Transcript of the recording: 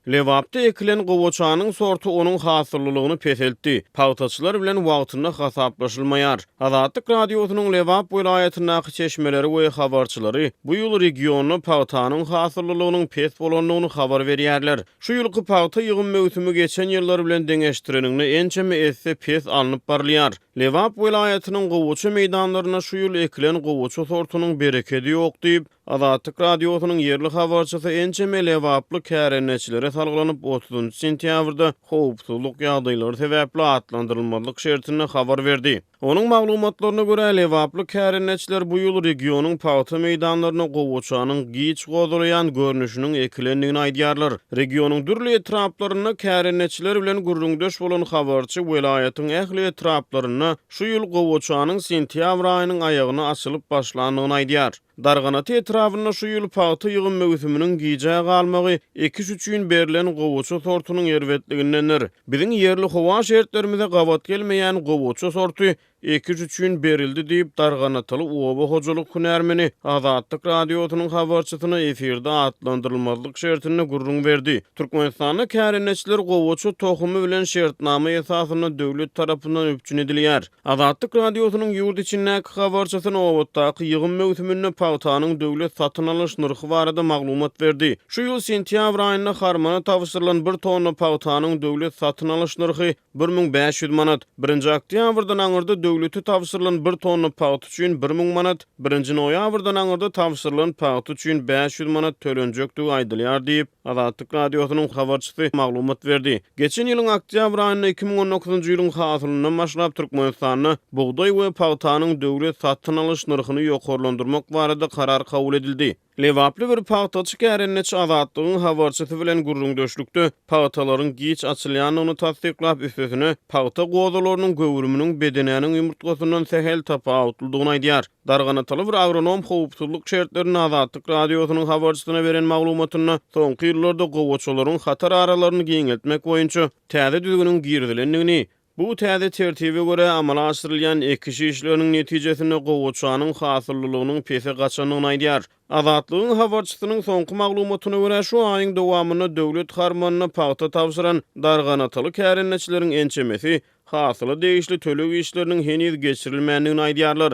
Lebapda ekilen gowaçanyň sorty onuň hasyllylygyny peseltdi, pagtaçylar bilen wagtynda hasaplaşylmaýar. Azatlyk Radiosynyň Lebap welaýatyndaky çeşmeleri we habarçylary bu ýyl regionda pagtanyň hasyllylygynyň pes bolandygyny habar berýärler. Şu ýylky pagta ýygym möwsümi geçen ýyllar bilen deňeşdireniňde ençeme esse pes alnyp barylýar. Lebap welaýatynyň gowaça meýdanlarynda şu ýyl ekilen gowaça sortunyň berekedi ýok diýip, Azatlyk Radiosynyň ýerli habarçysy ençeme lebaply kärendeçilere salgylanyp, otuzynjy sentýabrda howpsuzlyk ýagdaýlary sebäpli atlandyrylmazlyk şertinde habar berdi. Onuň maglumatlaryna görä, lebaply kärendeçiler bu ýyl regionyň pagta meýdanlarynda gowaçanyň giç gozalaýan görnüşiniň ekilendigini aýdýarlar. Regionyň dürli etraplarynda kärendeçiler bilen gürrüňdeş bolan habarçy welaýatyň ähli etraplarynda şu ýyl gowaçanyň sentýabr aýynyň aýagyna açylyp başlandygyny aýdýar. Darganata etrabynda şu ýyl pagta ýygym möwsüminiň gijä galmagy ekiş üçin berlen gowaça sortunyň erbetligindendir. Biziň ýerli howa şertlerimize gabat gelmeýän gowaça sorty ekiş üçin berildi diýip, darganataly oba hojalyk hünärmeni Azatlyk Radiosynyň habarçysyna efirde atlandyrylmazlyk şertinde gürrüň berdi. Türkmenistanda kärendeçiler gowaça tohumy bilen şertnama esasynda döwlet tarapyndan üpjün edilýär. Azatlyk Radiosynyň ýurt içindäki habarçysy nobatdaky ýygym möwsüminde pagtanyň döwlet satyn alyş nyrhy barada maglumat berdi. Şu ýyl sentýabr aýynda harmana tabşyrylan bir tonna pagtanyň döwlet satyn alyş nyrhy bir müň bäş ýüz manat, birinji oktýabrdan aňyrda döwlete tabşyrylan bir tonna pagta üçin bir müň manat, birinji noýabrdan aňyrda tabşyrylan pagta üçin bäş ýüz manat tölenjekdigi aýdylýar diýip, Azatlyk Radiosynyň habarçysy maglumat berdi. Geçen ýylyň oktýabr aýynda iki müň on dokuzynjy ýylyň hasylyndan başlap Türkmenistanda bugdaý we pagtanyň döwlet satyn alyş nyrhyny ýokarlandyrmak barada karar kabul edildi. Lebaply bir pagtaçy kärendeçi Azatlygyň habarçysy bilen gürrüňdeşlikde pagtalaryň giç açylýandygyny tassyklap, üstesine, pagta gozalarynyň göwrüminiň bedenäniň ýumurtgasyndan sähel tapawutlydygyny aýdýar. Darganatal bir agronom howpsuzlyk şertlerinde Azatlyk Radiosynyň habarçysyna beren maglumatynda soňky ýyllarda gowaçalaryň hatar aralaryny giňeltmek boýunça täze düzgüniň girizilendigini, bu täze tertibe görä amala aşyrylýan ekiş işleriniň netijesinde gowaçanyň hasyllylygynyň pese gaçandygyny aýdýar. Azatlygyň habarçysynyň soňky maglumatyna görä, şu aýyň dowamynda döwlet harmanyna pagta tabşyran darganataly kärendeçileriň ençemesi hasyla degişli töleg işleriniň heniz geçirilmändigini aýdýarlar.